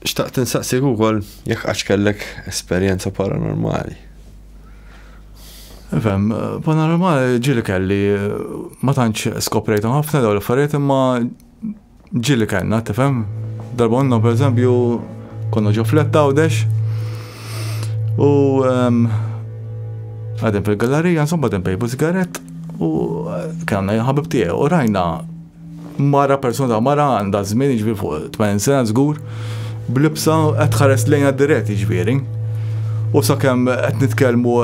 Xtaqt insaqsik ukoll jekk qattx kellek esperjenza paranormali. Ifhem, paranormali ġieli kelli, ma tantx skoprejthom ħafna dawn l-affarijiet imma ġieli kellna, tifhem? Darba konna pereżempju konna ġo flett għawdex u ehm, għadem fil-gallerija, insomma għadem pejbu sigarett u kellna jħabib tiegħu u rajna Mara, persuna ta' mara għandha żmien jiġifieri fuq 80 sena żgur, b'libsa qed tħares lejna dirett jiġifieri. U sakemm qed nitkellmu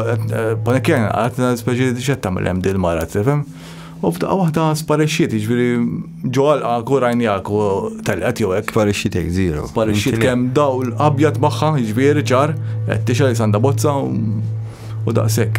panik kien qed speċi x'qed tagħmel hemm din mara tifhem. U f'daqqa waħda sparixxiet jiġifieri ġo għalqak u rajniak u telqet jew hekk. Sparixxiet hekk żieru. Sparixxiet kemm dawl abjad magħha jiġifieri ċar, qed tixgħel sanda bozza u daqshekk.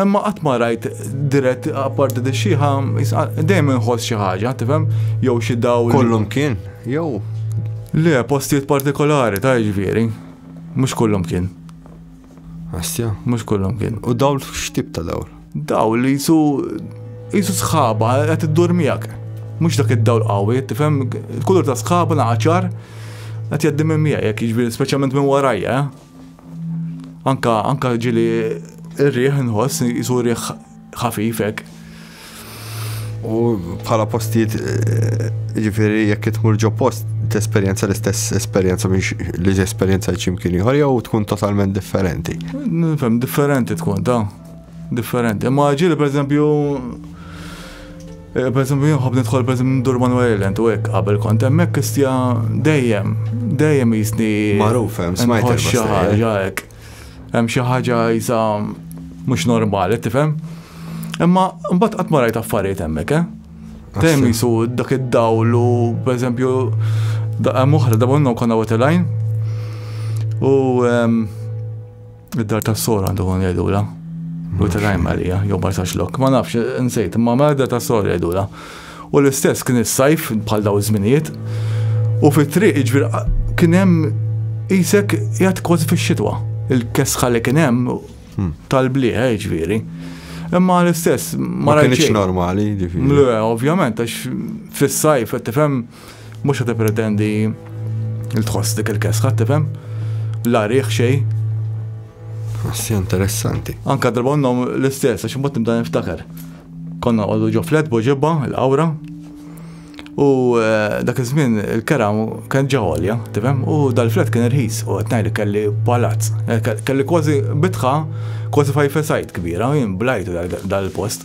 Imma qatt ma rajt dirett apparti di xieħa, dejjem inħoss xi ħaġa, tifhem? Jew xi dawl. Kollum kien, jew. Le, postijiet partikolari ta' ġifieri. Mhux kollum kien. Astja. Mhux kollum kien. U dawl x'tip ta' dawl? Dawl li jisu jisu sħaba qed iddur miegħek. Mhux dak id-dawl qawwi, tifhem? Kulur ta' sħaba naqaċar qed jgħaddi minn miegħek, jiġifieri speċjalment minn warajja. Eh? Anka, anka ġili ir-riħ nħoss, jisu riħ ħafifek. U bħala postijiet, eh, ġifiri, jekk tmur ġo post, t-esperienza l-istess esperienza biex li esperienza ċimkien jħor, jew tkun totalment differenti. Nifem, differenti tkun, ta' differenti. Ma ġili, per eżempju, Pereżempju jien nħobb nidħol pereżempju ndur Manuel Island u hekk qabel kont hemmhekk istja dejjem, dejjem qisni. Magħruf hemm, smajt. Inħoss xi ħaġa hekk. Hemm xi ħaġa qisha mhux normali, tifhem? Imma mbagħad qatt ma rajt affarijiet hemmhekk, eh? Dejjem jisu dak id-dawl u pereżempju hemm oħra dabonna konna wetelajn u Id-dar ta' sor għandu għan jgħidula. U t-rajm għalija, jew barsax lok. Ma nafx, nsejt, ma ma id-dar ta' sor jgħidula. U l-istess kien is-sajf bħal daw żminijiet. U fit-triq iġbir kien hemm isek jgħat kważi fix-xitwa. Il-kesħa li kien hemm hmm. tal-blieħ iġviri. Imma l-istess ma kienx normali. Le, ovvjament, għax fis-sajf qed tifhem Mhux qed tippretendi il tħoss dik il-kesħa, tifhem? La riħ xej. Assi interessanti. Anka drabonnom l-istess, għax mbagħad nibda niftakar. Konna għollu ġo flet boġibba, l-awra, u eh, dak iż-żmien il-kera kien ġaħolja, tifhem? U dal-flet kien irħis, u qed ngħid kelli palazz. Eh, kelli kważi bitħa, kważi fajfesajt kbira, jien blajt dal-post.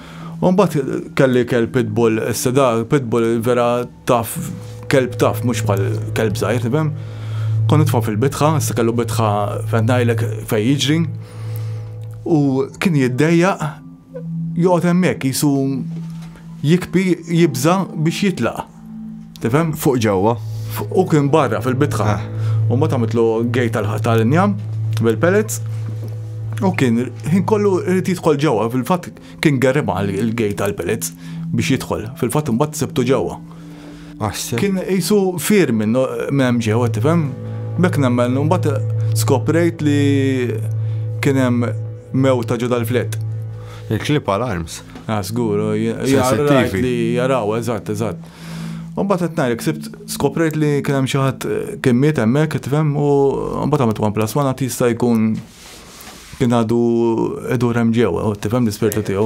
U mbagħad kelli kelb pitbull, issa da pitbull vera taf kelb taf mhux bħal kelb żgħir, tifhem? Kont nitfa' fil-bitħa, issa kellu bitħa fejn ngħidlek fejn jiġri. U kien jiddejjaq joqgħod hemmhekk jisu jikbi jibża biex jitlaq. Tifhem? Fuq ġewwa. U kien barra fil-bitħa. Ah. U ma tamitlu gej tal-injam bil-pellets. U kien ħin kollu rrit jidħol ġewwa, fil-fatt kien gerriba il-gej tal-pellets biex jidħol. Fil-fatt imbagħad sebtu ġewwa. Kien jisu fir minn hemm ġewwa tifhem. Bek nemmen, mbagħad skoprejt li kien hemm mewta ġo dal-flet. Il-clip alarms. Ah, żgur, sensittivi. Li jaraw, eżatt, eżatt. U mbagħad qed ngħidlek sibt skoprejt li kien hemm xi ħadd kien miet hemmhekk qed tifhem u mbagħad għamilt one plus one għad jista' jkun kien għadu idur hemm ġewwa, tifhem l-ispirtu tiegħu.